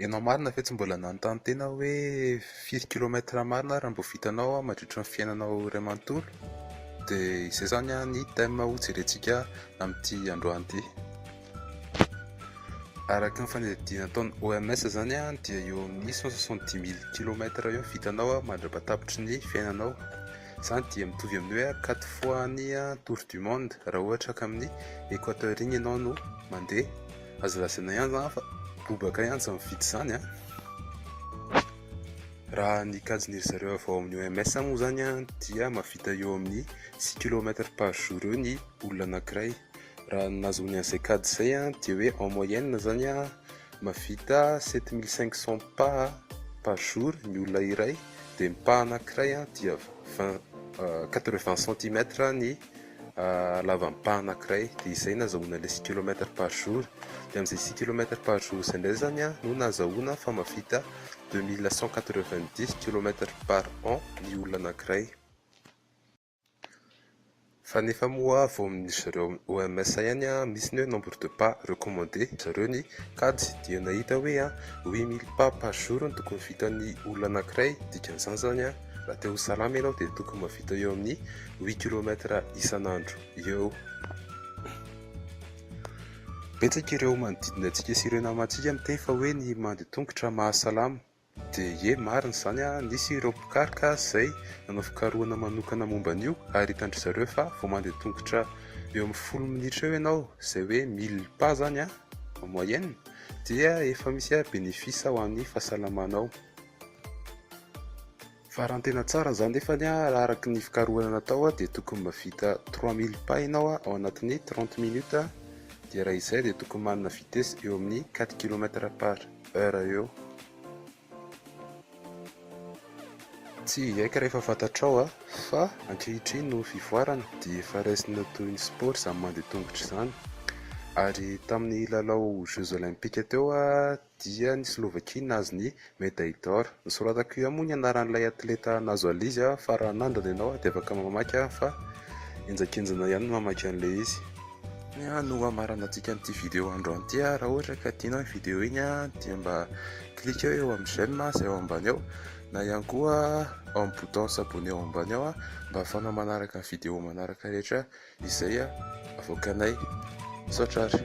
Ianao marina ve tsy mbola nanontany tena hoe firy kilomètre marina ary mbo vitanao mandritry ny fiainanao iray manontolo? Dia izay izany ny thème ho jerentsika amin'ity androany ity. Araka ny fanadihadiana ataon'ny OMS izany dia eo amin'ny cent soixante dix mille kilomètre eo ny vitanao mandra-patapitry ny fiainanao. Izany dia mitovy amin'ny hoe quatre fois ny tour du monde raha ohatra ka amin'ny Equateur iny ianao no mandeha. Aza lazaina ihany zany fa bobaka ihany zany mividy izany an! Raha ny kajin'iry zareo avy ao amin'ny OMS moa izany an dia mahavita eo amin'ny six kilomètres par jour eo ny olona anankiray. Raha ny nahazoany an'izay kajy izay an dia hoe en moyenne izany an mahavita sept mille cinq cents pas par jour ny olona iray dia ny pas anankiray an dia vingt quatre vingt centimètres ny halavam-paha anankiray dia izay nazahoana ilay six kilomètre par jour dia amin'izay six kilomètre par jour izay indray zany a no nazahoana fa mavita deux mille cent quatre-vingt-dix kilomètre par an ny olona anankiray fa nefa moa vao amin'ny zareo OMS ihany a misy ny hoe nombre de pas recommandé zareo ny kajy dia nahita hoe a huit mille pas par jour no tokony vitan'ny olona anankiray dikan'izany zany a Raha te ho salama ianao dia tokony mahavita eo amin'ny 8 kilomètre isan'andro eo. Betsaka ireo manodidina antsika sy ireo namantsika miteny fa hoe ny mandeha tongotra mahasalama. Dia ie marina izany a, nisy ireo mpikaroka izay nanao fikarohana manokana momba an'io ary hitan-dry zareo fa vao mandeha tongotra eo amin'ny folo minitra eo ianao izay hoe 1000 pas izany a, en moyenne, dia efa misy a bénéfice ho an'ny fahasalamanao. Farany tena tsara izany nefany raha araka ny fikarohana natao dia tokony mahavita 3000 pas ianao ao anatin'ny 30 minutes dia raha izay dia tokony manana vitesse eo amin'ny 4 kilomètre par heure eo. Tsy hiaiky rehefa fantatrao fa ankehitriny noho ny fivoarana dia efa raisina toy ny sport izany mandeha tongotra izany ary tamin'ny lalao jeux olympiques teo dia ny Slovakia nahazo ny medaille d'or. Nosoratako io moa ny anaran'ilay atleta nahazo al izy a, fa raha nandany ianao dia afaka mamaky a, fa henjakenjana ihany ny mamaky an'ilay izy. Ny a no hamaranantsika an'ity video androany ity a, raha ohatra ka tianao iny video iny a, dia mba cliqueo eo amin'ny j'aime a, izay ao ambany ao, na ihany koa ao amin'ny bouton s'abonner ao ambany ao a, mba ahafahanao manaraka ny video manaraka rehetra. Izay avoakanay. Misaotra ary.